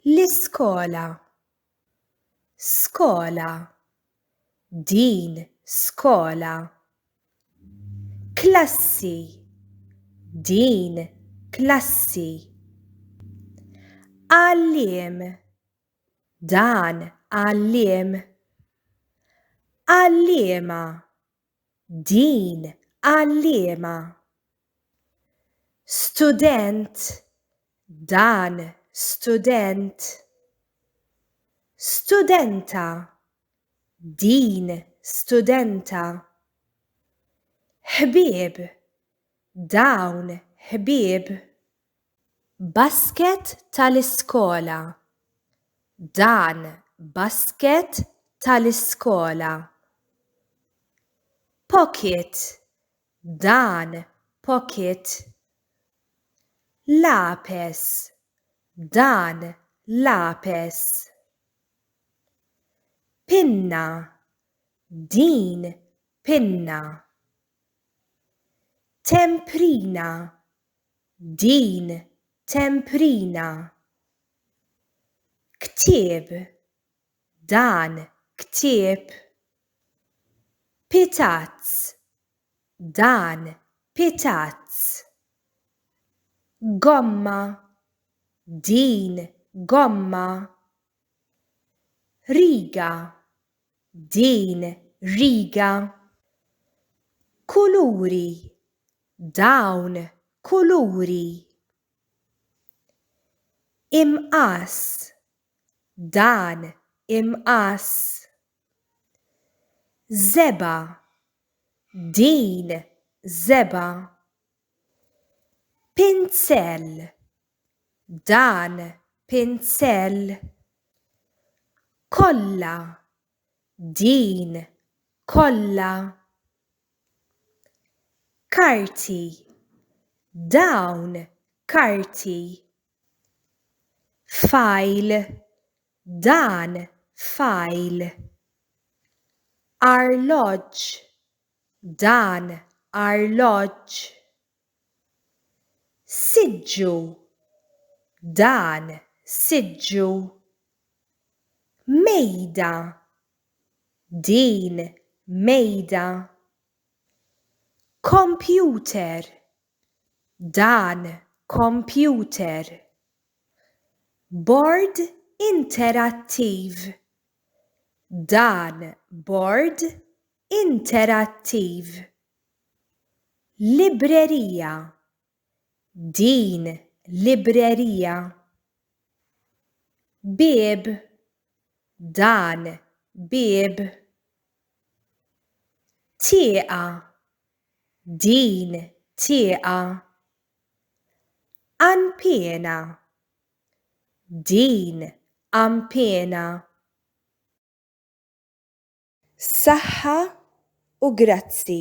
L-iskola. Skola. Din skola. Klassi. Din klassi. Għalliem. Dan għalliem. Għalliema. Din għal liema? Student Dan student. Studenta Din studenta. Ħbieb Dawn ħbieb. Basket tal-iskola Dan basket tal-iskola. Pocket Dan pocket. Lapes Dan lapes. Pinna Din pinna. Temprina Din temprina. Ktieb Dan ktieb. Pitazz Dan pitazz. Gomma Din gomma. Riga, din riga. Kuluri, dawn kuluri. Imqass, dan imqass. Żebgħa, din żebgħa. Pinsell, dan pinsell, kollha din kollha karti, dawn karti, fajl, dan fajl, arloġġ, dan arloġġ, Siġġu Dan siġġu Mejda Din mejda Kompjuter Dan kompjuter Bord interattiv Dan bord interattiv. Librerija Din librerija. Bieb Dan bieb. Tieqa Din tieqa. Għanpiena Din għanpiena. Saħħa u grazzi.